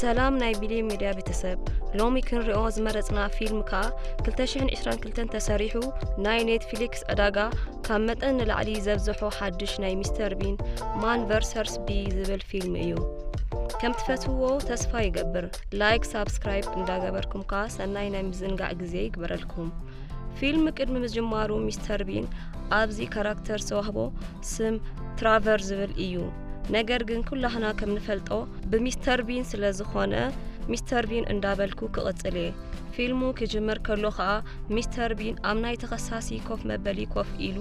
ሰላም ናይ ቢልየ ሚድያ ቤተሰብ ሎሚ ክንሪኦ ዝመረፅና ፊልም ከዓ 222 ተሰሪሑ ናይ ኔትፍሊክስ ዕዳጋ ካብ መጠን ንላዕሊ ዘብዘሖ ሓድሽ ናይ ሚስተር ቢን ማን ቨርሰርስ ቢ ዝብል ፊልም እዩ ከም ትፈትውዎ ተስፋ ይገብር ላይክ ሳብስክራይብ እንዳገበርኩም ከዓ ሰናይ ናይ ምዝንጋዕ ግዜ ይግበረልኩም ፊልም ቅድሚ ምጅማሩ ሚስተር ቢን ኣብዚ ካራክተር ዝተዋህቦ ስም ትራቨር ዝብል እዩ። ነገር ግን ኩላህና ከም ንፈልጦ ብሚስተር ቢን ስለ ዝኾነ ሚስተር ቢን እንዳበልኩ ክቕጽል እየ። ፊልሙ ክጅምር ከሎ ከኣ ሚስተር ቢን ኣብ ናይ ተኸሳሲ ኮፍ መበሊ ኮፍ ኢሉ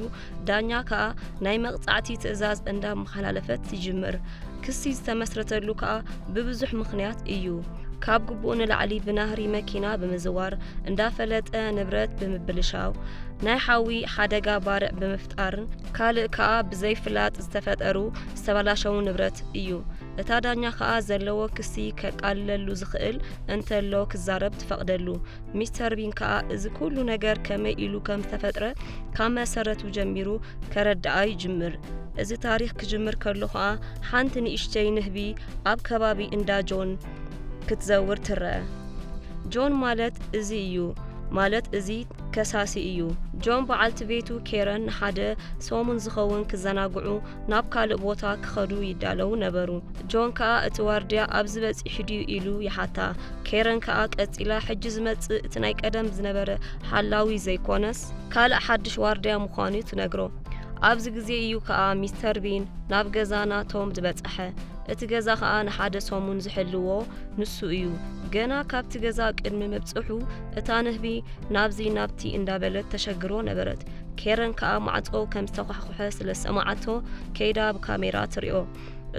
ዳኛ ከኣ ናይ መቕጻዕቲ ትእዛዝ እንዳ መሓላለፈት ትጅምር። ክሲ ዝተመስረተሉ ከኣ ብብዙሕ ምኽንያት እዩ። ካብ ግቡእ ንላዕሊ ብናህሪ መኪና ብምዝዋር፣ እንዳፈለጠ ንብረት ብምብልሻው፣ ናይ ሓዊ ሓደጋ ባርዕ ብምፍጣርን ካልእ ከኣ ብዘይ ፍላጥ ዝተፈጠሩ ዝተባላሸዉ ንብረት እዩ። እታ ዳኛ ከኣ ዘለዎ ክሲ ከቃልለሉ ዝኽእል እንተሎ ክዛረብ ትፈቕደሉ። ሚስተር ቢን ከኣ እዚ ኩሉ ነገር ከመይ ኢሉ ከም ዝተፈጥረ ካብ መሰረቱ ጀሚሩ ከረድኣ ይጅምር እዚ ታሪኽ ክጅምር ከሎ ኸኣ ሓንቲ ንእሽተይ ንህቢ ኣብ ከባቢ እንዳ ጆን ክትዘውር ትረአ ጆን ማለት እዚ እዩ ማለት እዚ ከሳሲ እዩ ጆን በዓልቲ ቤቱ ኬረን ንሓደ ሰሙን ዝኸውን ክዘናግዑ ናብ ካልእ ቦታ ክኸዱ ይዳለዉ ነበሩ። ጆን ከኣ እቲ ዋርድያ ኣብዚ በጺሑ ድዩ ኢሉ ይሓታ። ኬረን ከኣ ቀጺላ ሕጂ ዝመጽእ እቲ ናይ ቀደም ዝነበረ ሓላዊ ዘይኮነስ ካልእ ሓድሽ ዋርድያ ምዃኑ'ዩ ትነግሮ። ኣብዚ ግዜ እዩ ከኣ ሚስተር ቢን ናብ ገዛ ናቶም ዝበጸሐ። እቲ ገዛ ከኣ ንሓደ ሰሙን ዝሕልዎ ንሱ እዩ። ገና ካብቲ ገዛ ቅድሚ ምብጽሑ እታ ንህቢ ናብዚ ናብቲ እንዳበለት ተሸግሮ ነበረት። ኬረን ከኣ ማዕጾ ከም ዝተዃሕኩሐ ስለ ዝሰማዓቶ ከይዳ ብካሜራ ትሪኦ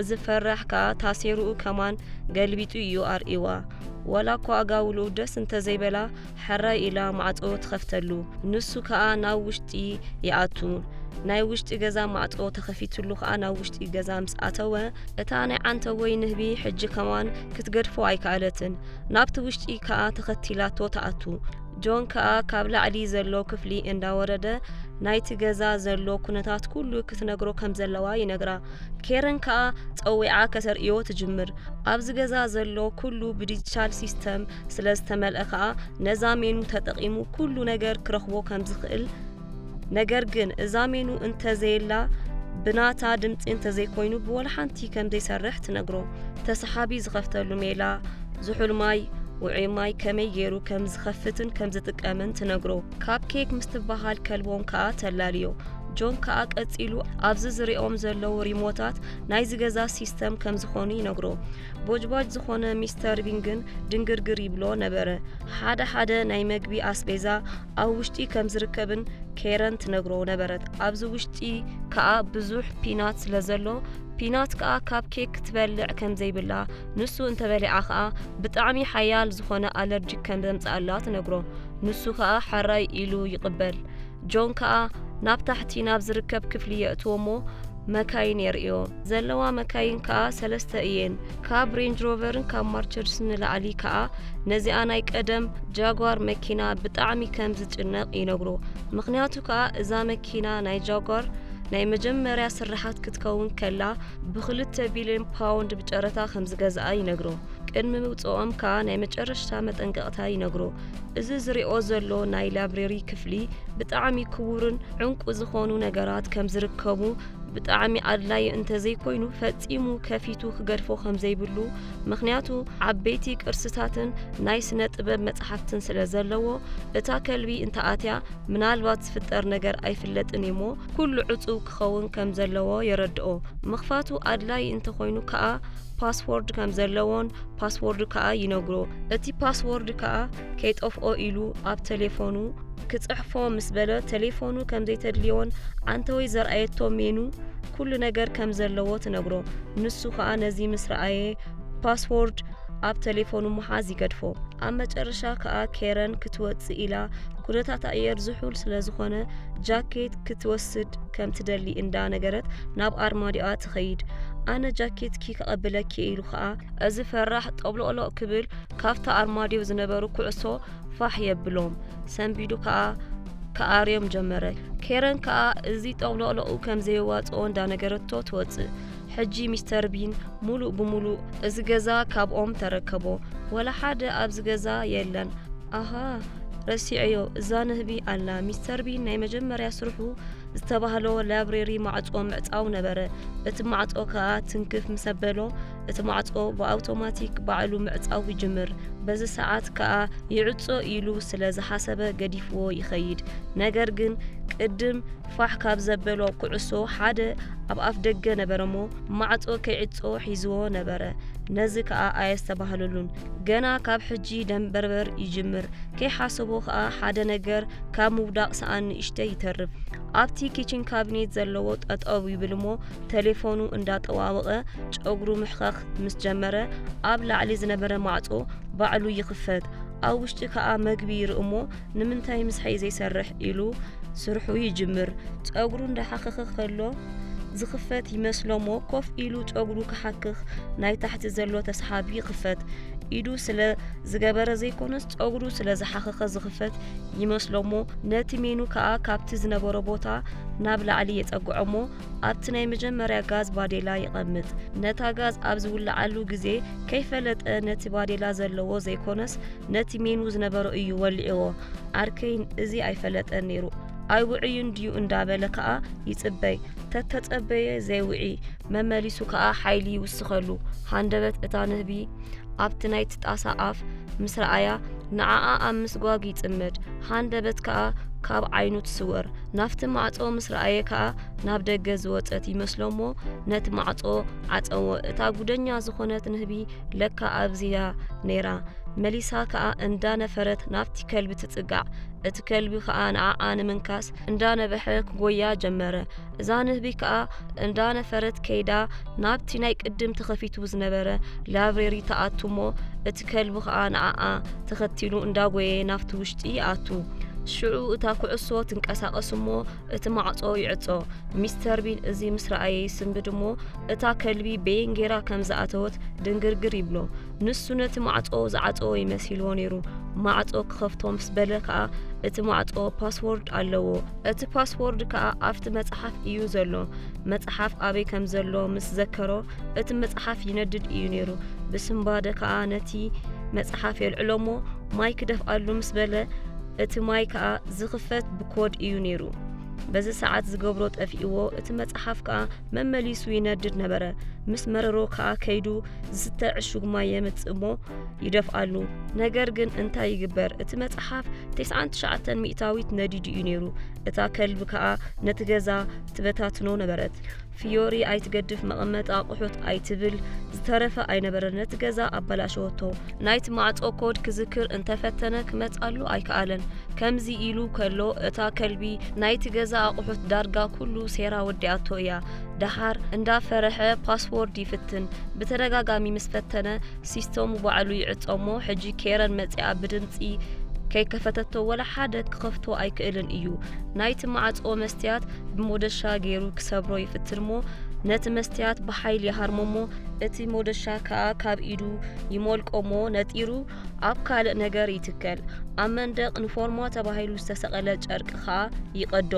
እዚ ፈራሕ ከኣ ታሴሩኡ ከማን ገልቢጡ እዩ ኣርእይዋ ወላ እኳ ኣጋውሉ ደስ እንተዘይበላ ሕራይ ኢላ ማዕጾ ትኸፍተሉ ንሱ ከኣ ናብ ውሽጢ ይኣቱ ናይ ውሽጢ ገዛ ማዕጾ ተኸፊትሉ ከኣ ናብ ውሽጢ ገዛ ምስ ኣተወ እታ ናይ ዓንተወይ ንህቢ ሕጂ ከማን ክትገድፎ ኣይከኣለትን ናብቲ ውሽጢ ከኣ ተኸቲላቶ ተኣቱ ጆን ከኣ ካብ ላዕሊ ዘሎ ክፍሊ እንዳወረደ ናይቲ ገዛ ዘሎ ኩነታት ኩሉ ክትነግሮ ከም ዘለዋ ይነግራ። ኬረን ከኣ ጸዊዓ ከተርእዮ ትጅምር። ኣብዚ ገዛ ዘሎ ኩሉ ብዲጂታል ሲስተም ስለ ዝተመልአ ከኣ ነዛ ሜኑ ተጠቒሙ ኩሉ ነገር ክረኽቦ ከም ዝኽእል ነገር ግን እዛ ሜኑ እንተዘየላ ብናታ ድምፂ እንተዘይኮይኑ ብወልሓንቲ ከም ዘይሰርሕ ትነግሮ ተሰሓቢ ዝኸፍተሉ ሜላ ዝሑል ማይ ውዑይ ማይ ከመይ ገይሩ ከም ዝኸፍትን ከም ዝጥቀምን ትነግሮ ካብ ኬክ ምስ ትበሃል ከልቦም ከኣ ተላልዮ ጆን ከኣ ቀጺሉ ኣብዚ ዝሪኦም ዘለዉ ሪሞታት ናይዚ ገዛ ሲስተም ከም ዝኾኑ ይነግሮ ቦጅባጅ ዝኾነ ሚስተር ቢን ግን ድንግርግር ይብሎ ነበረ ሓደ ሓደ ናይ መግቢ ኣስቤዛ ኣብ ውሽጢ ከም ዝርከብን ኬረን ትነግሮ ነበረት። ኣብዚ ውሽጢ ከኣ ብዙሕ ፒናት ስለ ዘሎ ፒናት ከኣ ካብ ኬክ ክትበልዕ ከም ዘይብላ ንሱ እንተበሊዓ ከኣ ብጣዕሚ ሓያል ዝኾነ ኣለርጂክ ከም ዘምጽኣላ ትነግሮ ንሱ ከኣ ሓራይ ኢሉ ይቕበል ጆን ከኣ ናብ ታሕቲ ናብ ዝርከብ ክፍሊ የእትዎ እሞ መካይን የርእዮ። ዘለዋ መካይን ከኣ ሰለስተ እየን። ካብ ሬንጅ ሮቨርን ካብ ማርቸድስ ንላዕሊ ከኣ ነዚኣ ናይ ቀደም ጃጓር መኪና ብጣዕሚ ከም ዝጭነቕ ይነግሮ። ምኽንያቱ ከኣ እዛ መኪና ናይ ጃጓር ናይ መጀመርያ ስርሓት ክትከውን ከላ ብክልተ ቢልዮን ፓውንድ ብጨረታ ከም ዝገዝኣ ይነግሮ። ቅድሚ ምውጽኦም ከኣ ናይ መጨረሽታ መጠንቀቕታ ይነግሮ። እዚ ዝሪኦ ዘሎ ናይ ላብረሪ ክፍሊ ብጣዕሚ ክቡርን ዕንቁ ዝኾኑ ነገራት ከም ዝርከቡ ብጣዕሚ ኣድላዩ እንተዘይኮይኑ ፈጺሙ ከፊቱ ክገድፎ ከም ዘይብሉ ምክንያቱ ዓበይቲ ቅርስታትን ናይ ስነ ጥበብ መጽሓፍትን ስለ ዘለዎ እታ ከልቢ እንተኣትያ ምናልባት ዝፍጠር ነገር ኣይፍለጥን እዩሞ ኩሉ ዕጹው ክኸውን ከም ዘለዎ የረድኦ ምኽፋቱ ኣድላዪ እንተኾይኑ ከኣ ፓስዎርድ ከም ዘለዎን ፓስዎርዱ ከኣ ይነግሮ። እቲ ፓስዎርድ ከኣ ከይጠፍኦ ኢሉ ኣብ ተሌፎኑ ክጽሕፎ ምስ በለ ተሌፎኑ ከም ዘይተድልዮን ዓንተወይ ዘርኣየቶ ሜኑ ኩሉ ነገር ከም ዘለዎ ትነግሮ። ንሱ ከኣ ነዚ ምስ ረኣየ ፓስዎርድ ኣብ ተሌፎኑ ምሓዝ ይገድፎ። ኣብ መጨረሻ ከኣ ኬረን ክትወጽእ ኢላ ኩነታት ኣየር ዝሑል ስለ ዝኾነ ጃኬት ክትወስድ ከም ትደሊ እንዳ ነገረት ናብ ኣርማድዮኣ ትኸይድ ኣነ ጃኬትኪ ከቐብለኪ ኢሉ ኸኣ እዚ ፈራሕ ጠብሎቕሎቕ ክብል ካብቲ ኣርማድዮ ዝነበሩ ኩዕሶ ፋሕ የብሎም ሰንቢዱ ከኣ ከኣርዮም ጀመረ ኬረን ከኣ እዚ ጠብሎቕሎቑ ከም ዘየዋጽኦ እንዳነገረቶ ትወጽእ ሕጂ ሚስተር ቢን ሙሉእ ብሙሉእ እዚ ገዛ ካብኦም ተረከቦ ወላ ሓደ ኣብዚ ገዛ የለን ኣሃ ረሲዐዮ እዛ ንህቢ ኣላ ሚስተር ቢን ናይ መጀመርያ ስርሑ ዝተባህሎ ላይብረሪ ማዕጾ ምዕጻው ነበረ። እቲ ማዕጾ ከኣ ትንክፍ ምስ ኣበሎ እቲ ማዕጾ ብኣውቶማቲክ ባዕሉ ምዕጻው ይጅምር። በዚ ሰዓት ከኣ ይዕጾ ኢሉ ስለ ዝሓሰበ ገዲፍዎ ይኸይድ። ነገር ግን ቅድም ፋሕ ካብ ዘበሎ ኩዕሶ ሓደ ኣብ ኣፍ ደገ ነበረሞ ማዕጾ ከይዕጾ ሒዝዎ ነበረ። ነዚ ከኣ ኣየስተባህለሉን። ገና ካብ ሕጂ ደምበርበር ይጅምር። ከይሓሰቦ ከኣ ሓደ ነገር ካብ ምውዳቕ ሰኣን ንእሽተይ ይተርፍ። ኣብቲ ኪችን ካቢኔት ዘለዎ ጠጠው ይብል እሞ ቴሌፎኑ እንዳጠዋወቐ ጨጉሩ ምሕኸኽ ምስ ጀመረ ኣብ ላዕሊ ዝነበረ ማዕጾ ባዕሉ ይኽፈት። ኣብ ውሽጢ ከኣ መግቢ ይርኢ እሞ ንምንታይ ምስሐይ ዘይሰርሕ ኢሉ ስርሑ ይጅምር ጸጉሩ እንዳሓኸኸ ከሎ ዝኽፈት ይመስሎሞ ኮፍ ኢሉ ጸጉሩ ክሓክኽ ናይ ታሕቲ ዘሎ ተስሓቢ ይኽፈት ኢዱ ስለ ዝገበረ ዘይኮነስ ጸጉሩ ስለ ዝሓኸኸ ዝኽፈት ይመስሎሞ ነቲ ሜኑ ከኣ ካብቲ ዝነበሮ ቦታ ናብ ላዕሊ የጸግዖሞ ኣብቲ ናይ መጀመርያ ጋዝ ባዴላ ይቐምጥ ነታ ጋዝ ኣብ ዝውልዓሉ ግዜ ከይፈለጠ ነቲ ባዴላ ዘለዎ ዘይኮነስ ነቲ ሜኑ ዝነበሮ እዩ ወሊዕዎ። ኣርከይን እዚ ኣይፈለጠን ነይሩ። ኣይውዕዩ እንድዩ እንዳበለ ከኣ ይጽበይ። ተተጸበየ ዘይውዒ መመሊሱ ከኣ ሓይሊ ይውስኸሉ። ሃንደበት እታ ንህቢ ኣብቲ ናይቲ ጣሳ ኣፍ ምስ ረኣያ ንዓኣ ኣብ ምስጓግ ይጽመድ። ሃንደበት ከኣ ካብ ዓይኑ ትስወር ናብቲ ማዕጾ ምስ ረኣየ ከኣ ናብ ደገ ዝወጸት ይመስሎሞ ነቲ ማዕጾ ዓጸዎ እታ ጉደኛ ዝኾነት ንህቢ ለካ ኣብዚያ ነይራ መሊሳ ከኣ እንዳነፈረት ናብቲ ከልቢ ትጽጋዕ እቲ ከልቢ ከኣ ንዓኣ ንምንካስ እንዳነበሐ ክጎያ ጀመረ እዛ ንህቢ ከኣ እንዳነፈረት ከይዳ ናብቲ ናይ ቅድም ተኸፊቱ ዝነበረ ላብሬሪ ተኣቱ እሞ እቲ ከልቢ ከኣ ንዓኣ ተኸቲሉ እንዳጎየ ናብቲ ውሽጢ ይኣቱ ሽዑ እታ ኩዕሶ ትንቀሳቐስ እሞ እቲ ማዕጾ ይዕጾ። ሚስተር ቢን እዚ ምስ ረኣየ ይስንብድ እሞ እታ ከልቢ በየን ጌራ ከም ዝኣተወት ድንግርግር ይብሎ። ንሱ ነቲ ማዕጾ ዝዓጸወ ይመሲልዎ ነይሩ። ማዕጾ ክኸፍቶ ምስ በለ ከኣ እቲ ማዕጾ ፓስዎርድ ኣለዎ። እቲ ፓስዎርድ ከኣ ኣብቲ መጽሓፍ እዩ ዘሎ። መጽሓፍ ኣበይ ከም ዘሎ ምስ ዘከሮ እቲ መጽሓፍ ይነድድ እዩ ነይሩ። ብስንባደ ከኣ ነቲ መጽሓፍ የልዕሎ እሞ ማይ ክደፍኣሉ ምስ በለ እቲ ማይ ከኣ ዝኽፈት ብኮድ እዩ ነይሩ። በዚ ሰዓት ዝገብሮ ጠፊእዎ፣ እቲ መጽሓፍ ከኣ መመሊሱ ይነድድ ነበረ። ምስ መረሮ ከኣ ከይዱ ዝስተ ዕሹግ ማይ የምጽእ እሞ ይደፍኣሉ። ነገር ግን እንታይ ይግበር፣ እቲ መጽሓፍ ቴስዓን ትሽዓተን ሚእታዊት ነዲዱ እዩ ነይሩ። እታ ከልቢ ከኣ ነቲ ገዛ ትበታትኖ ነበረት። ፍዮሪ ኣይትገድፍ መቐመጢ ኣቑሑት ኣይትብል ዝተረፈ ኣይነበረን ነቲ ገዛ ኣበላሸወቶ። ናይቲ ማዕጾ ኮድ ክዝክር እንተፈተነ ክመጽኣሉ ኣይከኣለን። ከምዚ ኢሉ ከሎ እታ ከልቢ ናይቲ ገዛ ኣቑሑት ዳርጋ ኩሉ ሴራ ወዲኣቶ እያ። ደሓር እንዳ ፈረሐ ፓስዎርድ ይፍትን። ብተደጋጋሚ ምስ ፈተነ ሲስተሙ ባዕሉ ይዕጾ እሞ ሕጂ ኬረን መጺኣ ብድምጺ ከይከፈተቶ ወላ ሓደ ክኸፍቶ ኣይክእልን እዩ። ናይቲ ማዕጾ መስትያት ብሞደሻ ገይሩ ክሰብሮ ይፍትን እሞ ነቲ መስትያት ብሓይል ይሃርሞ እሞ እቲ ሞደሻ ከኣ ካብ ኢዱ ይሞልቆ እሞ ነጢሩ ኣብ ካልእ ነገር ይትከል ኣብ መንደቕ ንፎርሞ ተባሂሉ ዝተሰቐለ ጨርቂ ከኣ ይቐዶ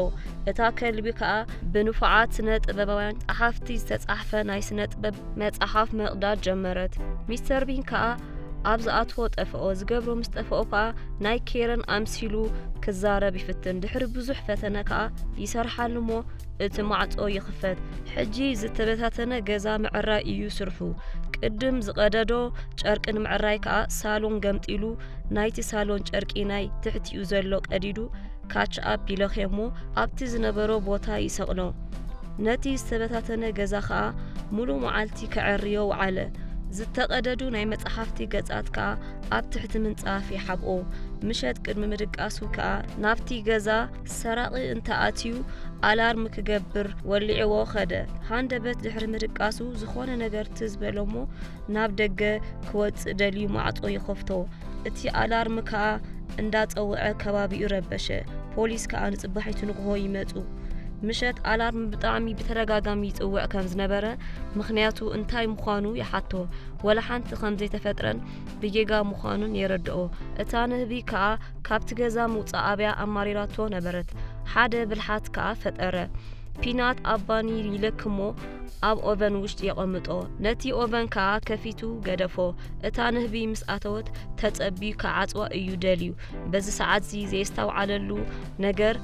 እታ ከልቢ ከኣ ብንፉዓት ስነ ጥበባውያን ጸሓፍቲ ዝተጻሕፈ ናይ ስነ ጥበብ መጽሓፍ መቕዳድ ጀመረት ሚስተር ቢን ከኣ ኣብ ዝኣትዎ ጠፍኦ ዝገብሮ ምስ ጠፍኦ ከኣ ናይ ኬረን ኣምሲሉ ክዛረብ ይፍትን ድሕሪ ብዙሕ ፈተነ ከኣ ይሰርሓሉ እሞ እቲ ማዕጾ ይኽፈት ሕጂ ዝተበታተነ ገዛ ምዕራይ እዩ ስርሑ ቅድም ዝቐደዶ ጨርቂ ንምዕራይ ከኣ ሳሎን ገምጢሉ ናይቲ ሳሎን ጨርቂ ናይ ትሕቲኡ ዘሎ ቀዲዱ ካች ኣፕ ይለኽዮ እሞ ኣብቲ ዝነበሮ ቦታ ይሰቕሎ ነቲ ዝተበታተነ ገዛ ኸኣ ሙሉእ መዓልቲ ከዐርዮ ውዓለ ዝተቐደዱ ናይ መጽሓፍቲ ገጻት ከኣ ኣብ ትሕቲ ምንጻፍ ይሓብኦ ምሸት ቅድሚ ምድቃሱ ከኣ ናብቲ ገዛ ሰራቒ እንተኣትዩ ኣላርም ክገብር ወሊዕዎ ኸደ ሃንደበት ድሕሪ ምድቃሱ ዝኾነ ነገር ትዝ በሎ እሞ ናብ ደገ ክወጽእ ደልዩ ማዕጾ ይኸፍቶ እቲ ኣላርም ከኣ እንዳጸውዐ ከባቢኡ ረበሸ ፖሊስ ከኣ ንጽባሒቱ ንግሆ ይመጹ ምሸት ኣላርም ብጣዕሚ ብተደጋጋሚ ይጽውዕ ከም ዝነበረ ምክንያቱ እንታይ ምዃኑ ይሓቶ ወላ ሓንቲ ከም ዘይተፈጥረን ብጌጋ ምዃኑን የረድኦ እታ ንህቢ ከኣ ካብቲ ገዛ ምውጻእ ኣብያ ኣማሪራቶ ነበረት ሓደ ብልሓት ከኣ ፈጠረ ፒናት ኣባኒ ይለክሞ ኣብ ኦቨን ውሽጢ የቐምጦ። ነቲ ኦቨን ከኣ ከፊቱ ገደፎ። እታ ንህቢ ምስ ኣተወት ተጸብዩ ክዓጽዋ እዩ ደልዩ። በዚ ሰዓትዚ ዘየስተውዓለሉ ነገር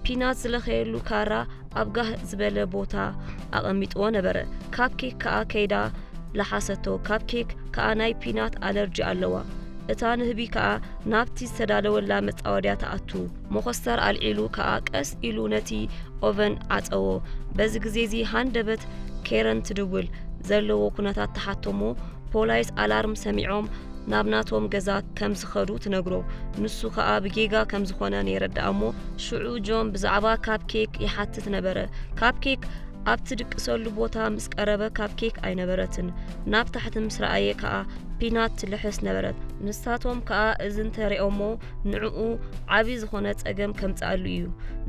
ፒናት ዝለኸየሉ ካራ ኣብ ጋህ ዝበለ ቦታ ኣቐሚጥዎ ነበረ። ካብ ኬክ ከኣ ከይዳ ለሓሰቶ። ካብ ኬክ ከኣ ናይ ፒናት ኣለርጂ ኣለዋ። እታ ንህቢ ከኣ ናብቲ ዝተዳለወላ መጻወድያ ትኣቱ። መኾስተር ኣልዒሉ ከኣ ቀስ ኢሉ ነቲ ኦቨን ዓጸዎ። በዚ ግዜ እዚ ሃንደበት ኬረን ትድውል። ዘለዎ ኩነታት ትሓቶሞ ፖላይስ ኣላርም ሰሚዖም ናብ ናቶም ገዛ ከም ዝኸዱ ትነግሮ። ንሱ ከኣ ብጌጋ ከም ዝኾነ ነይረዳኣ እሞ ሽዑ ጆን ብዛዕባ ካፕ ኬክ ይሓትት ነበረ። ካፕ ኬክ ኣብ ትድቅሰሉ ቦታ ምስ ቀረበ ካፕ ኬክ ኣይነበረትን። ናብ ታሕቲ ምስ ረኣየ ከኣ ፒናት ትልሕስ ነበረት። ንሳቶም ከኣ እዚ እንተሪኦሞ ንዕኡ ዓብዪ ዝኾነ ጸገም ከምጽኣሉ እዩ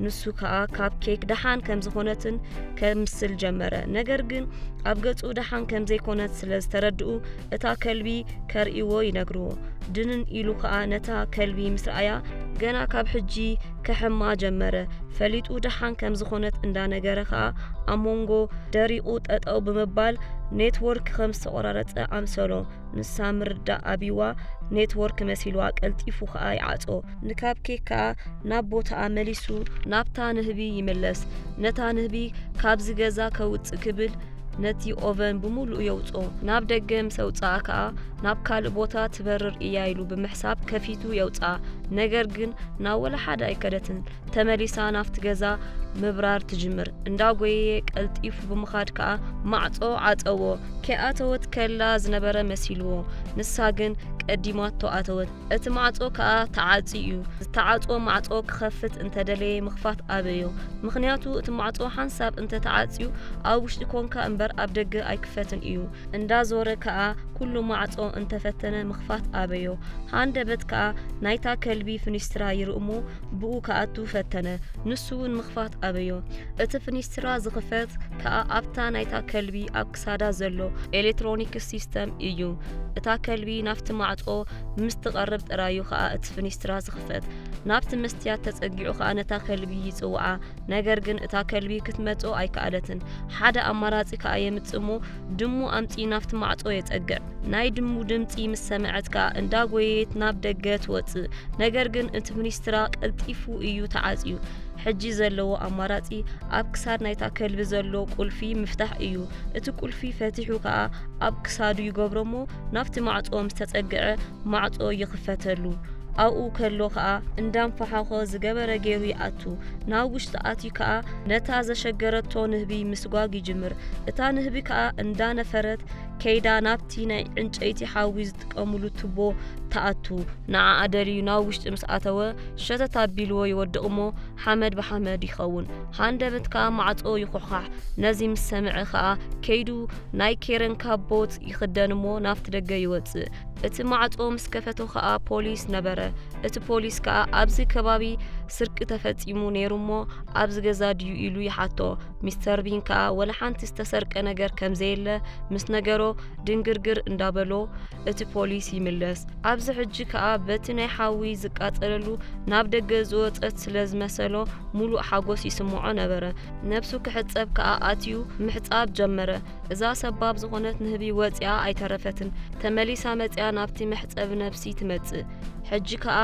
ንሱ ከዓ ካብ ኬክ ደሓን ከም ዝኾነትን ከምስል ጀመረ ነገር ግን ኣብ ገጹ ደሓን ከም ዘይኮነት ስለ ዝተረድኡ እታ ከልቢ ከርእይዎ ይነግርዎ ድንን ኢሉ ከዓ ነታ ከልቢ ምስ ረኣያ ገና ካብ ሕጂ ከሕማ ጀመረ ፈሊጡ ደሓን ከም ዝኾነት እንዳነገረ ከዓ ኣብ መንጎ ደሪቑ ጠጠው ብምባል ኔትወርክ ከም ዝተቆራረፀ ኣምሰሎ ንሳ ምርዳእ ኣቢዋ ኔትወርክ መሲልዋ ቀልጢፉ ከኣ ይዓጾ ንካብ ኬክ ከኣ ናብ ቦታኣ መሊሱ ናብታ ንህቢ ይምለስ ነታ ንህቢ ካብዚ ገዛ ከውጽእ ክብል ነቲ ኦቨን ብምሉእ የውጾ ናብ ደገ ምስ ኣውጽኣ ከኣ ናብ ካልእ ቦታ ትበርር እያ ኢሉ ብምሕሳብ ከፊቱ የውጽኣ ነገር ግን ናብ ወላ ሓደ ኣይከደትን ተመሊሳ ናብቲ ገዛ ምብራር ትጅምር። እንዳጎየየ ቀልጢፉ ብምኻድ ከኣ ማዕጾ ዓጸዎ። ከይኣተወት ከላ ዝነበረ መሲልዎ፣ ንሳ ግን ቀዲማቶ ኣተወት። እቲ ማዕጾ ከኣ ተዓጽዩ እዩ። ዝተዓጽወ ማዕጾ ክኸፍት እንተደለየ ምኽፋት ኣበዮ። ምኽንያቱ እቲ ማዕጾ ሓንሳብ እንተተዓጽዩ ኣብ ውሽጢ ኮንካ እምበር ኣብ ደገ ኣይክፈትን እዩ። እንዳዞረ ከኣ ኩሉ ማዕጾ እንተፈተነ ምኽፋት ኣበዮ። ሃንደበት ከኣ ናይታ ከልቢ ፍኒስትራ ይርእ'ሞ ብኡ ክኣቱ ፈተነ፣ ንሱ እውን ምኽፋት ኣበዮ። እቲ ፍኒስትራ ዝኽፈት ከኣ ኣብታ ናይታ ከልቢ ኣብ ክሳዳ ዘሎ ኤሌክትሮኒክስ ሲስተም እዩ። እታ ከልቢ ናብቲ ማዕጾ ምስ ትቐርብ ጥራዩ ከኣ እቲ ፍኒስትራ ዝኽፈት። ናብቲ መስትያት ተጸጊዑ ከኣ ነታ ከልቢ ይጽውዓ፣ ነገር ግን እታ ከልቢ ክትመጽኦ ኣይከኣለትን። ሓደ ኣማራጺ ከኣ የምጽእ እሞ ድሙ ኣምጺኡ ናብቲ ማዕጾ የጸግዕ። ናይ ድሙ ድምፂ ምስ ሰምዐት ከኣ እንዳጎየየት ናብ ደገ ትወፅእ። ነገር ግን እቲ ሚኒስትራ ቀልጢፉ እዩ ተዓፅዩ። ሕጂ ዘለዎ ኣማራፂ ኣብ ክሳድ ናይታ ከልቢ ዘሎ ቁልፊ ምፍታሕ እዩ። እቲ ቁልፊ ፈቲሑ ከኣ ኣብ ክሳዱ ይገብሮሞ ናብቲ ማዕፆ ምስ ተፀግዐ ማዕፆ ይኽፈተሉ። ኣብኡ ከሎ ከኣ እንዳንፈሓኾ ዝገበረ ገይሩ ይኣቱ። ናብ ውሽጢ ኣትዩ ከኣ ነታ ዘሸገረቶ ንህቢ ምስጓግ ይጅምር። እታ ንህቢ ከኣ እንዳነፈረት ከይዳ ናብቲ ናይ ዕንጨይቲ ሓዊ ዝጥቀምሉ ቱቦ ትኣቱ ንዓኣ ደልዩ ናብ ውሽጢ ምስ ኣተወ ሸተት ኣቢልዎ ይወድቕ እሞ ሓመድ ብሓመድ ይኸውን ሃንደበት ከኣ ማዕጾ ይኹሕኻሕ ነዚ ምስ ሰምዐ ከኣ ከይዱ ናይ ኬረን ካቦት ይኽደን እሞ ናብቲ ደገ ይወጽእ እቲ ማዕጾ ምስ ከፈቶ ከኣ ፖሊስ ነበረ እቲ ፖሊስ ከኣ ኣብዚ ከባቢ ስርቂ ተፈጺሙ ነይሩ እሞ ኣብዚ ገዛ ድዩ ኢሉ ይሓቶ ሚስተር ቢን ከዓ ወላ ሓንቲ ዝተሰርቀ ነገር ከም ዘየለ ምስ ነገሮ ድንግርግር እንዳበሎ እቲ ፖሊስ ይምለስ ኣብዚ ሕጂ ከዓ በቲ ናይ ሓዊ ዝቃፀለሉ ናብ ደገ ዝወፀት ስለ ዝመሰሎ ሙሉእ ሓጎስ ይስምዖ ነበረ ነብሱ ክሕፀብ ከዓ ኣትዩ ምሕፃብ ጀመረ እዛ ሰባብ ዝኾነት ንህቢ ወፂኣ ኣይተረፈትን ተመሊሳ መፅያ ናብቲ መሕፀቢ ነብሲ ትመፅእ ሕጂ ከዓ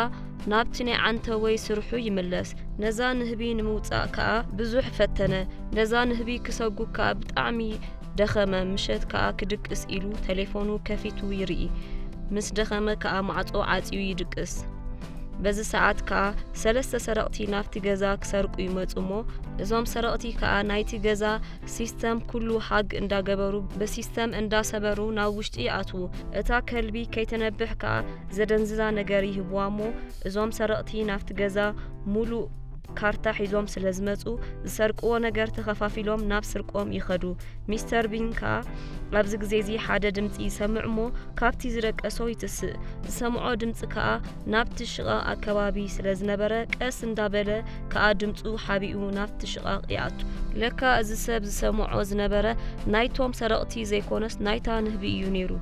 ናብቲ ናይ ዓንተቦይ ስርሑ ይምለስ ነዛ ንህቢ ንምውጻእ ከኣ ብዙሕ ፈተነ ነዛ ንህቢ ክሰጉግ ከኣ ብጣዕሚ ደኸመ ምሸት ከኣ ክድቅስ ኢሉ ተሌፎኑ ከፊቱ ይርኢ ምስ ደኸመ ከኣ ማዕጾ ዓጽዩ ይድቅስ በዚ ሰዓት ከኣ ሰለስተ ሰረቕቲ ናብቲ ገዛ ክሰርቁ ይመጹ እሞ እዞም ሰረቕቲ ከኣ ናይቲ ገዛ ሲስተም ኩሉ ሃግ እንዳገበሩ ብሲስተም እንዳሰበሩ ናብ ውሽጢ ይኣትዉ እታ ከልቢ ከይተነብሕ ከኣ ዘደንዝዛ ነገር ይህብዋ እሞ እዞም ሰረቕቲ ናብቲ ገዛ ሙሉእ ካርታ ሒዞም ስለዝመጹ ዝሰርቅዎ ነገር ተኸፋፊሎም ናብ ስርቆም ይኸዱ ሚስተር ቢን ከኣ ኣብዚ ግዜዚ ሓደ ድምጺ ይሰምዕ እሞ ካብቲ ዝደቀሶ ይትስእ ዝሰምዖ ድምጺ ከኣ ናብቲ ሽቓቕ ኣከባቢ ስለ ዝነበረ ቀስ እንዳበለ ከኣ ድምጹ ሓቢኡ ናብቲ ሽቓቕ ይኣቱ። ለካ እዚ ሰብ ዝሰምዖ ዝነበረ ናይቶም ሰረቕቲ ዘይኮነስ ናይታ ንህቢ እዩ ነይሩ።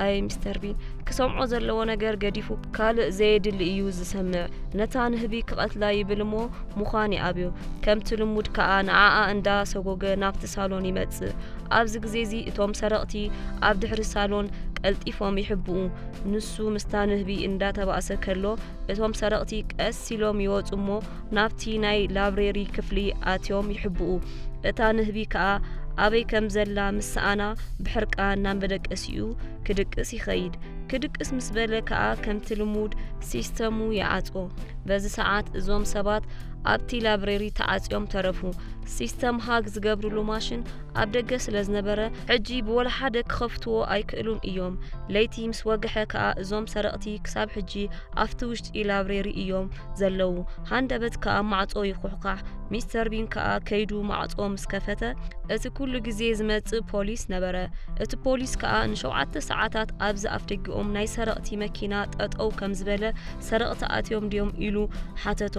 ኣይ ሚስተር ቢን ክሰምዖ ዘለዎ ነገር ገዲፉ ካልእ ዘየድሊ እዩ ዝሰምዕ። ነታ ንህቢ ክቐትላ ይብል እሞ ምዃን ይኣብዮ። ከምቲ ልሙድ ከኣ ንዓኣ እንዳ ሰጎገ ናብቲ ሳሎን ይመጽእ። ኣብዚ ግዜ እዚ እቶም ሰረቕቲ ኣብ ድሕሪ ሳሎን ቀልጢፎም ይሕብኡ። ንሱ ምስታ ንህቢ እንዳተባእሰ ከሎ እቶም ሰረቕቲ ቀስ ኢሎም ይወጹ እሞ ናብቲ ናይ ላብሬሪ ክፍሊ ኣትዮም ይሕብኡ። እታ ንህቢ ከኣ ኣበይ ከም ዘላ ምስ ሰኣና ብሕርቃን ናብ መደቀሲኡ ክድቅስ ይኸይድ። ክድቅስ ምስ በለ ከኣ ከምቲ ልሙድ ሲስተሙ ይዓጾ። በዚ ሰዓት እዞም ሰባት ኣብቲ ላብሬሪ ተዓጽዮም ተረፉ። ሲስተም ሃግ ዝገብርሉ ማሽን ኣብ ደገ ስለ ዝነበረ ሕጂ ብወላሓደ ክኸፍትዎ ኣይክእሉን እዮም። ለይቲ ምስ ወግሐ ከኣ እዞም ሰረቕቲ ክሳብ ሕጂ ኣብቲ ውሽጢ ላብሬሪ እዮም ዘለዉ። ሃንደበት ከኣ ማዕጾ ይኹሕኳሕ። ሚስተር ቢን ከኣ ከይዱ ማዕጾ ምስ ከፈተ እቲ ኩሉ ግዜ ዝመጽእ ፖሊስ ነበረ። እቲ ፖሊስ ከኣ ንሸውዓተ ሰዓታት ኣብዚ ኣፍደጊኦም ናይ ሰረቕቲ መኪና ጠጠው ከም ዝበለ ሰረቕቲ ኣትዮም ድዮም ኢሉ ሓተቶ።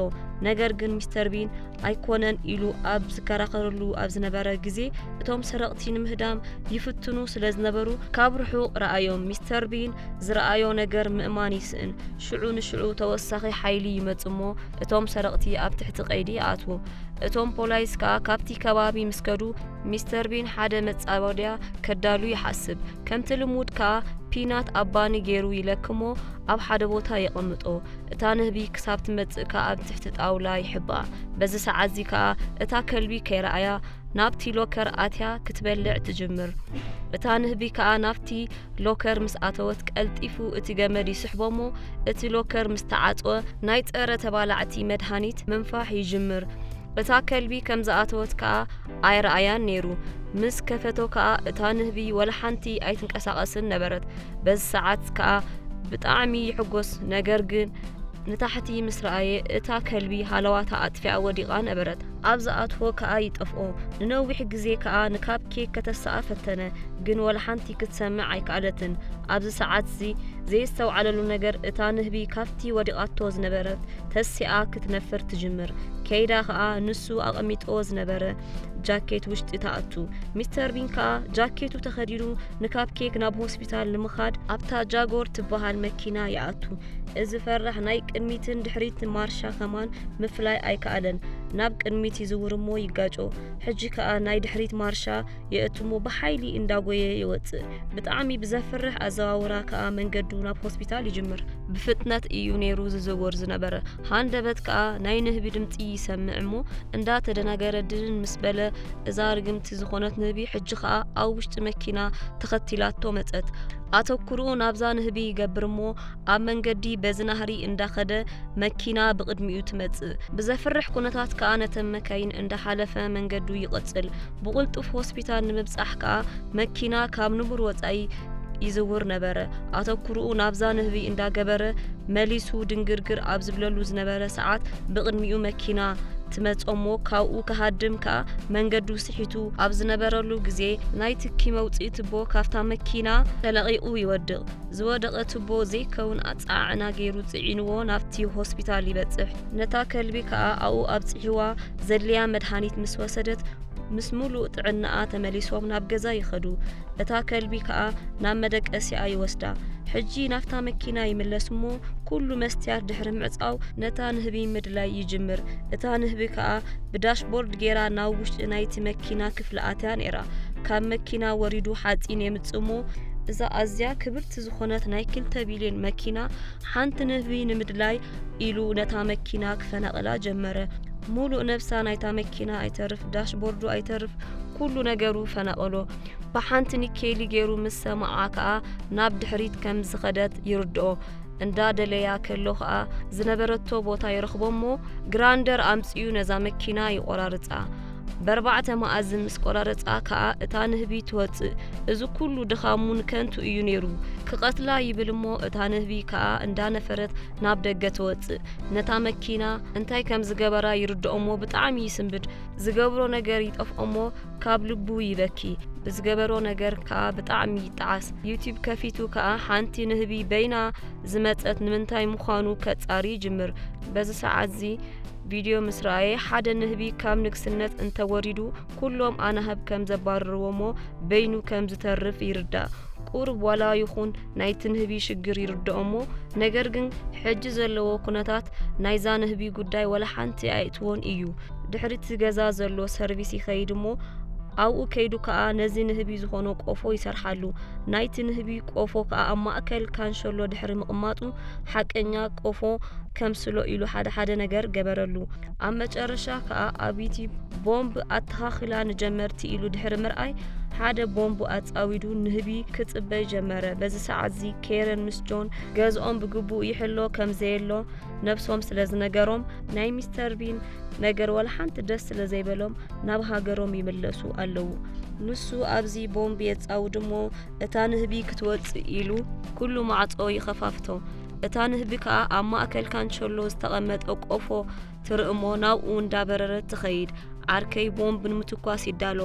ነገር ግን ሚስተር ቢን ኣይኮነን ኢሉ ኣብ ዝከራኸረሉ ኣብ ዝነበረ ግዜ እቶም ሰረቕቲ ንምህዳም ይፍትኑ ስለ ዝነበሩ ካብ ርሑቕ ረኣዮም። ሚስተር ቢን ዝረኣዮ ነገር ምእማን ይስእን። ሽዑ ንሽዑ ተወሳኺ ሓይሊ ይመጽእሞ እቶም ሰረቕቲ ኣብ ትሕቲ ቀይዲ ይኣትዉ። እቶም ፖላይስ ከኣ ካብቲ ከባቢ ምስ ከዱ ሚስተር ቢን ሓደ መጻወድያ ከዳሉ ይሓስብ። ከምቲ ልሙድ ከኣ ፒናት ኣብ ባኒ ገይሩ ይለክሞ ኣብ ሓደ ቦታ የቐምጦ። እታ ንህቢ ክሳብ ትመጽእ ከኣ ኣብ ትሕቲ ጣውላ ይሕብኣ። በዚ ሰዓትዚ ከኣ እታ ከልቢ ከይረኣያ ናብቲ ሎከር ኣትያ ክትበልዕ ትጅምር። እታ ንህቢ ከኣ ናብቲ ሎከር ምስ ኣተወት ቀልጢፉ እቲ ገመድ ይስሕቦሞ እቲ ሎከር ምስ ተዓጽወ ናይ ጸረ ተባላዕቲ መድሃኒት ምንፋሕ ይጅምር። እታ ከልቢ ከም ዝኣተወት ከኣ ኣይረኣያን ነይሩ። ምስ ከፈቶ ከኣ እታ ንህቢ ወላሓንቲ ኣይትንቀሳቐስን ነበረት። በዚ ሰዓት ከኣ ብጣዕሚ ይሕጎስ ነገር ግን ንታሕቲ ምስ ረኣየ እታ ከልቢ ሃለዋታ ኣጥፊኣ ወዲቓ ነበረት። ኣብ ዝኣትዎ ከኣ ይጠፍኦ። ንነዊሕ ግዜ ከኣ ንካፕ ኬክ ከተሳኣ ፈተነ ግን ወላሓንቲ ክትሰምዕ ኣይከኣለትን። ኣብዚ ሰዓትዚ ዘየስተውዓለሉ ነገር እታ ንህቢ ካብቲ ወዲቓቶ ዝነበረት ተሲኣ ክትነፍር ትጅምር። ከይዳ ከኣ ንሱ ኣቐሚጦ ዝነበረ ጃኬት ውሽጢ ተኣቱ። ሚስተር ቢን ከኣ ጃኬቱ ተኸዲኑ ንካፕ ኬክ ናብ ሆስፒታል ንምኻድ ኣብታ ጃጎር ትበሃል መኪና ይኣቱ። እዚ ፈራሕ ናይ ቅድሚትን ድሕሪት ማርሻ ከማን ምፍላይ ኣይከኣለን። ናብ ቅድሚት ይዝውር እሞ ይጋጮ። ሕጂ ከኣ ናይ ድሕሪት ማርሻ የእትሞ ብሓይሊ እንዳጎየ ይወጽእ። ብጣዕሚ ብዘፍርሕ ኣዘዋውራ ከኣ መንገዱ ናብ ሆስፒታል ይጅምር። ብፍጥነት እዩ ነይሩ ዝዝውር ዝነበረ። ሃንደበት ከኣ ናይ ንህቢ ድምጺ ይሰምዕ እሞ እንዳተደናገረ ድንን ምስ በለ እዛ ርግምቲ ዝኾነት ንህቢ ሕጂ ከኣ ኣብ ውሽጢ መኪና ተኸቲላቶ መጸት። ኣተኩርኡ ናብዛ ንህቢ ይገብር እሞ ኣብ መንገዲ በዚ ናህሪ እንዳኸደ መኪና ብቕድሚኡ ትመጽእ። ብዘፍርሕ ኩነታት ከኣ ነተን መካይን እንዳሓለፈ መንገዱ ይቕጽል። ብቕልጡፍ ሆስፒታል ንምብጻሕ ከኣ መኪና ካብ ንቡር ወጻኢ ይዝውር ነበረ። ኣተኩርኡ ናብዛ ንህቢ እንዳገበረ መሊሱ ድንግርግር ኣብ ዝብለሉ ዝነበረ ሰዓት ብቕድሚኡ መኪና ትመጽ'ሞ ካብኡ ክሃድም ከኣ መንገዱ ስሒቱ ኣብ ዝነበረሉ ግዜ ናይ ትኪ መውጽኢ ትቦ ካብታ መኪና ተለቒቑ ይወድቕ። ዝወደቐ ትቦ ዘይከውን ኣጸዓዕና ገይሩ ጽዒንዎ ናብቲ ሆስፒታል ይበጽሕ። ነታ ከልቢ ከኣ ኣብኡ ኣብጺሕዋ ዘድልያ መድሃኒት ምስ ወሰደት ምስ ምሉእ ጥዕናኣ ተመሊሶም ናብ ገዛ ይኸዱ። እታ ከልቢ ከኣ ናብ መደቀሲኣ ይወስዳ። ሕጂ ናብታ መኪና ይምለስ እሞ ኩሉ መስትያት ድሕሪ ምዕጻው ነታ ንህቢ ምድላይ ይጅምር። እታ ንህቢ ከኣ ብዳሽቦርድ ጌራ ናብ ውሽጢ ናይቲ መኪና ክፍሊ ኣትያ ነይራ። ካብ መኪና ወሪዱ ሓጺን የምጽእ እሞ እዛ ኣዝያ ክብርቲ ዝኾነት ናይ ክልተ ቢልዮን መኪና ሓንቲ ንህቢ ንምድላይ ኢሉ ነታ መኪና ክፈናቕላ ጀመረ። ሙሉእ ነብሳ ናይታ መኪና ኣይተርፍ፣ ዳሽቦርዱ ኣይተርፍ፣ ኩሉ ነገሩ ፈናቐሎ። ብሓንቲ ኒኬሊ ገይሩ ምስ ሰማዓ ከኣ ናብ ድሕሪት ከም ዝኸደት ይርድኦ። እንዳደለያ ከሎ ከኣ ዝነበረቶ ቦታ ይረኽቦ እሞ ግራንደር ኣምጺኡ ነዛ መኪና ይቆራርጻ። በርባዕተ መኣዝን ምስ ቆራረጻ ከኣ እታ ንህቢ ትወጽእ እዚ ኩሉ ድኻሙን ከንቱ እዩ ነይሩ ክቐትላ ይብል እሞ እታ ንህቢ ከኣ እንዳነፈረት ናብ ደገ ትወጽእ ነታ መኪና እንታይ ከም ዝገበራ ይርድኦሞ ብጣዕሚ ይስንብድ ዝገብሮ ነገር ይጠፍኦሞ ካብ ልቡ ይበኪ ብዝገበሮ ነገር ከኣ ብጣዕሚ ይጠዓስ ዩቲብ ከፊቱ ከኣ ሓንቲ ንህቢ በይና ዝመጸት ንምንታይ ምዃኑ ከጻሪ ይጅምር በዚ ሰዓት እዚ ቪድዮ ምስ ረኣየ ሓደ ንህቢ ካብ ንግስነት እንተወሪዱ ኩሎም ኣናህብ ከም ዘባርርዎሞ በይኑ ከም ዝተርፍ ይርዳእ። ቁሩብ ዋላ ይኹን ናይቲ ንህቢ ሽግር ይርድኦሞ ነገር ግን ሕጂ ዘለዎ ኩነታት ናይዛ ንህቢ ጉዳይ ዋላ ሓንቲ ኣየእትዎን እዩ። ድሕሪቲ ገዛ ዘሎ ሰርቪስ ይኸይድ እሞ ኣብኡ ከይዱ ከኣ ነዚ ንህቢ ዝኾኖ ቆፎ ይሰርሓሉ። ናይቲ ንህቢ ቆፎ ከኣ ኣብ ማእከል ካንሸሎ ድሕሪ ምቕማጡ ሓቀኛ ቆፎ ከምስሎ ኢሉ ሓደ ሓደ ነገር ገበረሉ። ኣብ መጨረሻ ከዓ ኣብይቲ ቦምብ ኣተኻኽላ ንጀመርቲ ኢሉ ድሕሪ ምርኣይ ሓደ ቦምብ ኣጻዊዱ ንህቢ ክጽበይ ጀመረ። በዚ ሰዓት እዚ ኬረን ምስ ጆን ገዝኦም ብግቡእ ይሕሎ ከም ዘየሎ ነብሶም ስለ ዝነገሮም ናይ ሚስተር ቢን ነገር ወላ ሓንቲ ደስ ስለ ዘይበሎም ናብ ሃገሮም ይምለሱ ኣለዉ። ንሱ ኣብዚ ቦምብ የጻውድ እሞ እታ ንህቢ ክትወጽእ ኢሉ ኩሉ ማዕጾ ይኸፋፍቶ። እታ ንህቢ ከኣ ኣብ ማእከል ካንቸሎ ዝተቐመጠ ቆፎ ትርኢ እሞ ናብኡ እንዳበረረት ትኸይድ። ዓርከይ ቦምብ ንምትኳስ ይዳሎ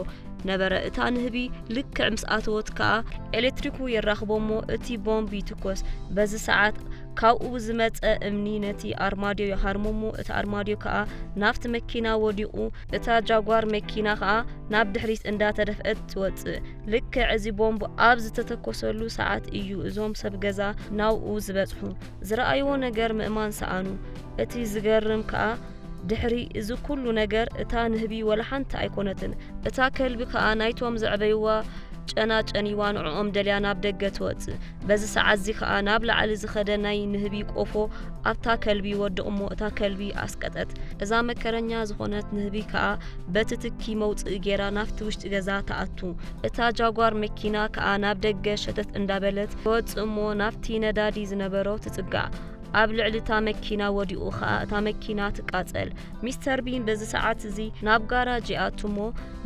ነበረ። እታ ንህቢ ልክዕ ምስ ኣተወት ከኣ ኤሌክትሪኩ የራኽቦ እሞ እቲ ቦምብ ይትኮስ። በዚ ሰዓት ካብኡ ብዝመጸ እምኒ ነቲ ኣርማድዮ ይሃርሞ እሞ እቲ ኣርማድዮ ከኣ ናብቲ መኪና ወዲቑ እታ ጃጓር መኪና ከኣ ናብ ድሕሪት እንዳተደፍአት ትወጽእ። ልክዕ እዚ ቦምብ ኣብ ዝተተኮሰሉ ሰዓት እዩ እዞም ሰብ ገዛ ናብኡ ዝበጽሑ። ዝረኣይዎ ነገር ምእማን ሰኣኑ። እቲ ዝገርም ከኣ ድሕሪ እዚ ኩሉ ነገር እታ ንህቢ ወላ ሓንቲ ኣይኮነትን። እታ ከልቢ ከኣ ናይቶም ዘዕበይዋ ጨና ጨንይዋ ንዕኦም ደልያ ናብ ደገ ትወጽእ። በዚ ሰዓትዚ ከኣ ናብ ላዕሊ ዝኸደ ናይ ንህቢ ቆፎ ኣብታ ከልቢ ይወድቕ እሞ እታ ከልቢ ኣስቀጠት። እዛ መከረኛ ዝኾነት ንህቢ ከኣ በቲ ትኪ መውጽኢ ጌራ ናብቲ ውሽጢ ገዛ ትኣቱ። እታ ጃጓር መኪና ከኣ ናብ ደገ ሸተት እንዳበለት ትወጽእ እሞ ናብቲ ነዳዲ ዝነበሮ ትጽጋዕ። ኣብ ልዕሊ እታ መኪና ወዲቑ ከኣ እታ መኪና ትቃጸል። ሚስተር ቢን በዚ ሰዓትዚ ናብ ጋራጅ ይኣቱ እሞ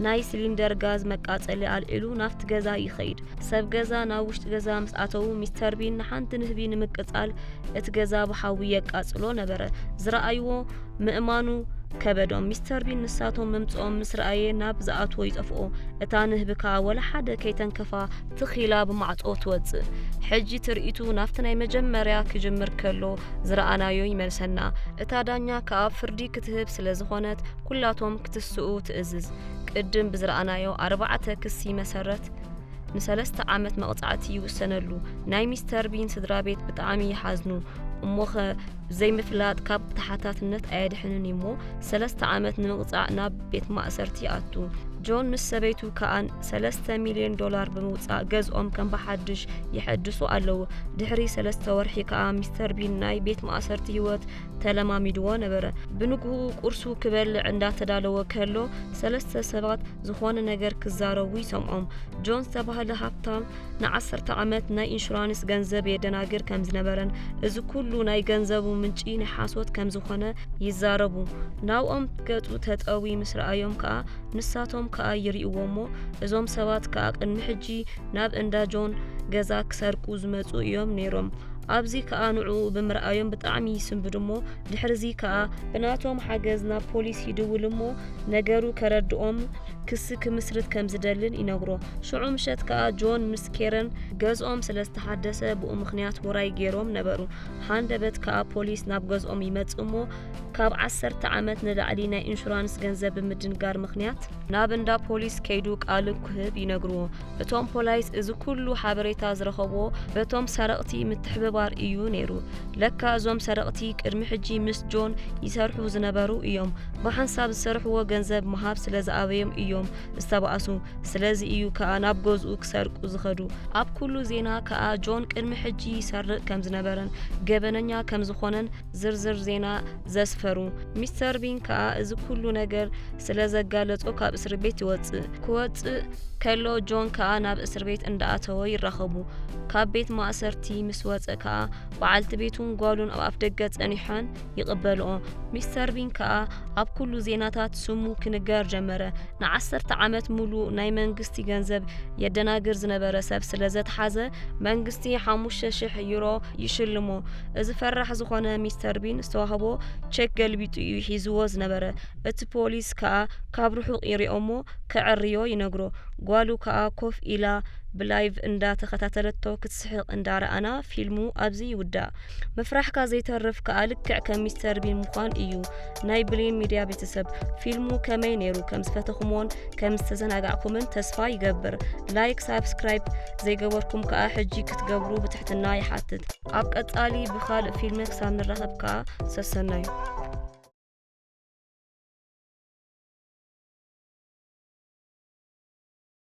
ናይ ስሊንደር ጋዝ መቃጸሊ ኣልዒሉ ናብቲ ገዛ ይኸይድ። ሰብ ገዛ ናብ ውሽጢ ገዛ ምስ ኣተዉ ሚስተር ቢን ንሓንቲ ንህቢ ንምቅጻል እቲ ገዛ ብሓዊ የቃጽሎ ነበረ። ዝረኣይዎ ምእማኑ ከበዶም። ሚስተር ቢን ንሳቶም ምምጽኦም ምስ ረኣየ ናብ ዝኣትዎ ይጠፍኦ። እታ ንህቢ ከኣ ወላ ሓደ ከይተንከፋ ትኽ ኢላ ብማዕጾ ትወጽእ። ሕጂ ትርኢቱ ናብቲ ናይ መጀመርያ ክጅምር ከሎ ዝረኣናዮ ይመልሰና። እታ ዳኛ ከኣ ፍርዲ ክትህብ ስለ ዝኾነት ኩላቶም ክትስኡ ትእዝዝ። ቅድም ብዝረኣናዮ ኣርባዕተ ክሲ መሰረት ንሰለስተ ዓመት መቕጻዕቲ ይውሰነሉ። ናይ ሚስተር ቢን ስድራ ቤት ብጣዕሚ ይሓዝኑ። እሞኸ ዘይምፍላጥ ካብ ተሓታትነት ኣየድሕንን እዩሞ ሰለስተ ዓመት ንምቕጻዕ ናብ ቤት ማእሰርቲ ይኣቱ። ጆን ምስ ሰበይቱ ከኣን ሰለስተ ሚልዮን ዶላር ብምውጻእ ገዝኦም ከም ብሓድሽ የሐድሱ ኣለዉ። ድሕሪ ሰለስተ ወርሒ ከኣ ሚስተር ቢን ናይ ቤት ማእሰርቲ ህይወት ተለማሚድዎ ነበረ። ብንግኡ ቁርሱ ክበልዕ እንዳተዳለወ ከሎ ሰለስተ ሰባት ዝኾነ ነገር ክዛረቡ ይሰምዖም። ጆን ዝተባህለ ሃብታም ንዓሰርተ ዓመት ናይ ኢንሹራንስ ገንዘብ የደናግር ከም ዝነበረን እዚ ኩሉ ናይ ገንዘቡ ምንጪ ናይ ሓሶት ከም ዝኾነ ይዛረቡ። ናብኦም ገጹ ተጠዊ ምስ ረኣዮም ከኣ ንሳቶም ከኣ ይርእዎ እሞ እዞም ሰባት ከኣ ቅድሚ ሕጂ ናብ እንዳ ጆን ገዛ ክሰርቁ ዝመጹ እዮም ነይሮም። ኣብዚ ከኣ ንዕኡ ብምርኣዮም ብጣዕሚ ይስንብዱ እሞ ድሕሪዚ ከኣ ብናቶም ሓገዝ ናብ ፖሊስ ይድውል እሞ ነገሩ ከረድኦም ክሲ ክምስርት ከም ዝደልን ይነግሮ። ሽዑ ምሸት ከኣ ጆን ምስ ኬረን ገዝኦም ስለ ዝተሓደሰ ብኡ ምኽንያት ውራይ ጌሮም ነበሩ። ሃንደበት ከኣ ፖሊስ ናብ ገዝኦም ይመጽእ እሞ ካብ ዓሰርተ ዓመት ንላዕሊ ናይ ኢንሹራንስ ገንዘብ ብምድንጋር ምኽንያት ናብ እንዳ ፖሊስ ከይዱ ቃሉ ክህብ ይነግርዎ። እቶም ፖላይስ እዚ ኩሉ ሓበሬታ ዝረኸብዎ በቶም ሰረቕቲ ምትሕብባር እዩ ነይሩ። ለካ እዞም ሰረቕቲ ቅድሚ ሕጂ ምስ ጆን ይሰርሑ ዝነበሩ እዮም። ብሓንሳብ ዝሰርሕዎ ገንዘብ ምሃብ ስለ ዝኣበዮም እዮም ዝተባእሱ። ስለዚ እዩ ከኣ ናብ ገዝኡ ክሰርቁ ዝኸዱ። ኣብ ኩሉ ዜና ከኣ ጆን ቅድሚ ሕጂ ይሰርቕ ከም ዝነበረን ገበነኛ ከም ዝኾነን ዝርዝር ዜና ዘስፈሩ ሚስተር ቢን ከኣ እዚ ኩሉ ነገር ስለ ዘጋለጾ ካብ እስር ቤት ይወጽእ ክወጽእ ከሎ ጆን ከኣ ናብ እስር ቤት እንዳኣተወ ይራኸቡ ካብ ቤት ማእሰርቲ ምስ ወጸ ከኣ በዓልቲ ቤቱን ጓሉን ኣብ ኣፍ ደገ ጸኒሖን ይቕበልኦ ሚስተር ቢን ከኣ ኣብ ኩሉ ዜናታት ስሙ ክንገር ጀመረ ንዓሰርተ ዓመት ሙሉ ናይ መንግስቲ ገንዘብ የደናግር ዝነበረ ሰብ ስለ ዘተሓዘ መንግስቲ ሓሙሽተ ሽሕ ዩሮ ይሽልሞ እዚ ፈራሕ ዝኾነ ሚስተር ቢን ዝተዋህቦ ቸክ ገልቢጡ እዩ ሒዝዎ ዝነበረ። እቲ ፖሊስ ከኣ ካብ ርሑቕ ይሪኦ'ሞ ከዐርዮ ይነግሮ። ጓሉ ከኣ ኮፍ ኢላ ብላይቭ እንዳ ተኸታተለቶ ክትስሕቕ እንዳ ረኣና ፊልሙ ኣብዚ ይውዳእ። ምፍራሕካ ዘይተርፍ ከኣ ልክዕ ከም ሚስተር ቢን ምዃን እዩ። ናይ ብሌን ሚድያ ቤተሰብ ፊልሙ ከመይ ነይሩ ከም ዝፈተኹምዎን ከም ዝተዘናጋዕኩምን ተስፋ ይገብር። ላይክ ሳብስክራይብ ዘይገበርኩም ከኣ ሕጂ ክትገብሩ ብትሕትና ይሓትት። ኣብ ቀጻሊ ብኻልእ ፊልሚ ክሳብ ንራኸብ ከኣ ሰሰናዩ።